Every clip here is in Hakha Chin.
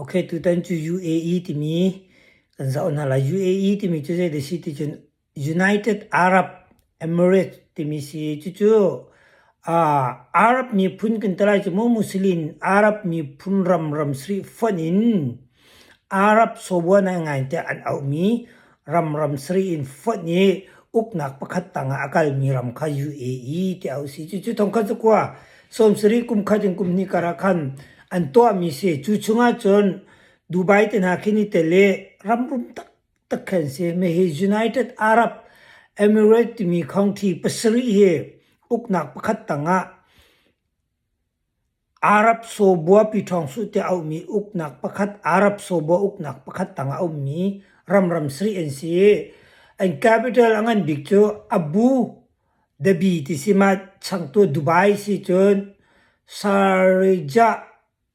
Okay, tutan cu UAE timi kan zoh hna lai. UAE timi cu zeidah a si ticun United Arab Emirates timi si i cucu aa Arab miphun kan ti lai cu mu Muslim Arab miphun ramram sarih fonh in Arab sobuan ah ngai tiah an auhmi Ramram sarih in fonh i uknak pakhat tangah a kalmi ram kha Yue i tiah a si. Cucu thongkhat cakua sawm sarih kum khat in kum hnih karah khan an tuahmi si. Cu chungah cun Dubai te hna khi ni te le ramrum taktak khan si. Hihi United Arab Emirates timi khongthi pasarih hi uknak pakhat tangah Arab-Sawbua Pyithawngsuh tiah a ummi uknak pakhat Arab-Sawbua uknak pakhat tangah a ummi ramram sarih an si. An capital a ngan bik cu Abu Dhabi ti si. Mah changtu Dubai si cun Sharjah.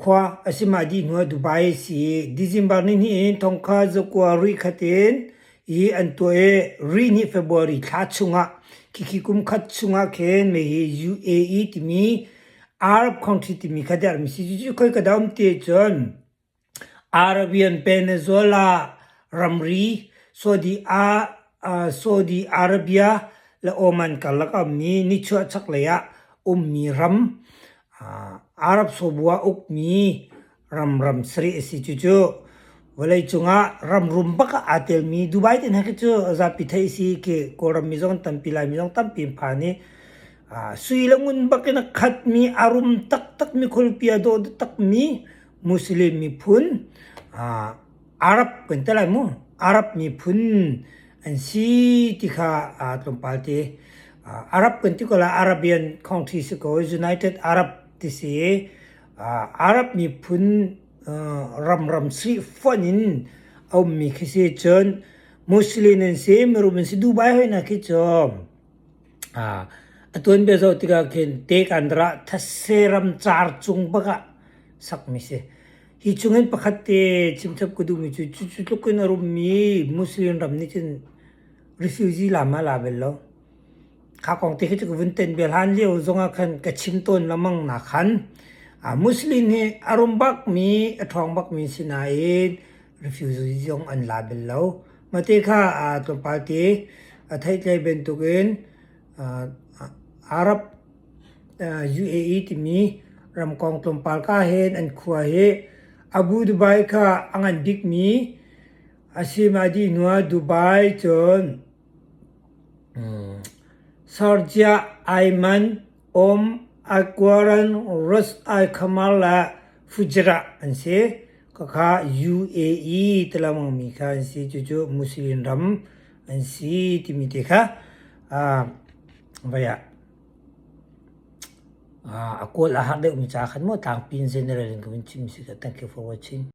Khua a si mah dih hnuah Dubai a si i December ni hnih in thong kha zakua ruih khat in i an tuah i ri ni February thla chungah khikhi kum khat chungah khin mei hi UAE timi Arab country timi kha der mi si. Cucu khoi ka daum ti ahcun Arabian Peninsula ramri Saudi ah uh, Saudi Arabia le Oman karlak a ummi nichuah chaklei ah ummi ram Arab sobu ah ukmi ramram sarih a si. Cucu vawleicung ah ramrum bak ah aa telmi Dubai te hna khi cu zapi theih a si khi Kawlrammi zong an tampi, Laimi zong tampi an phan i sui le ngun bak in a khatmi, a rum taktakmi, khualpi a dawh taktakmi Muslim miphun Arab kan ti lai mu. Arab miphun an si ti kha aa tlawmpal ti. Ah, Arab kan ti ko la Arabian country si ko. United Arab ti si. Ah, Arab miphun uh, ramram si fon in a ummi khi si cun Muslim an si, mirum an si. Dubai hoi na khi cu A tuan bia zoh tikah khin te kan ra thasse ram car cung bak ah sakmi si. Hi chung hin pakhat te chimchap ka duhmi cu cucu tluk in a rummi Muslim ram nih cun refugee lam ah la bel lo. Kha kong te khi cu ka vun ten bia hlan lio zong ah khan ka chim tawn lengmang nak khan Muslim hi a rum bakmi a ṭhawng bakmi si nain Refugee zong an la bal lo. Mate kha aa tlawmpal ti. A theihtlei bantukin Arab UAE timi ramkong tlawmpal ka hen an khua hi Abu Dubai kha a ngan bikmi a si ma dih hnuah Dubai cun Sharjah, Aiman, Om Aykwaran Road ai Khamar le Fujairah an si. Khakha UAE ti lengmangmi kha an si. Cucu Muslim ram an si timi te kha uh, vai ah a kual a har deuhmi ca khan maw tlangpi in general in kan chim si ka thank you for watching.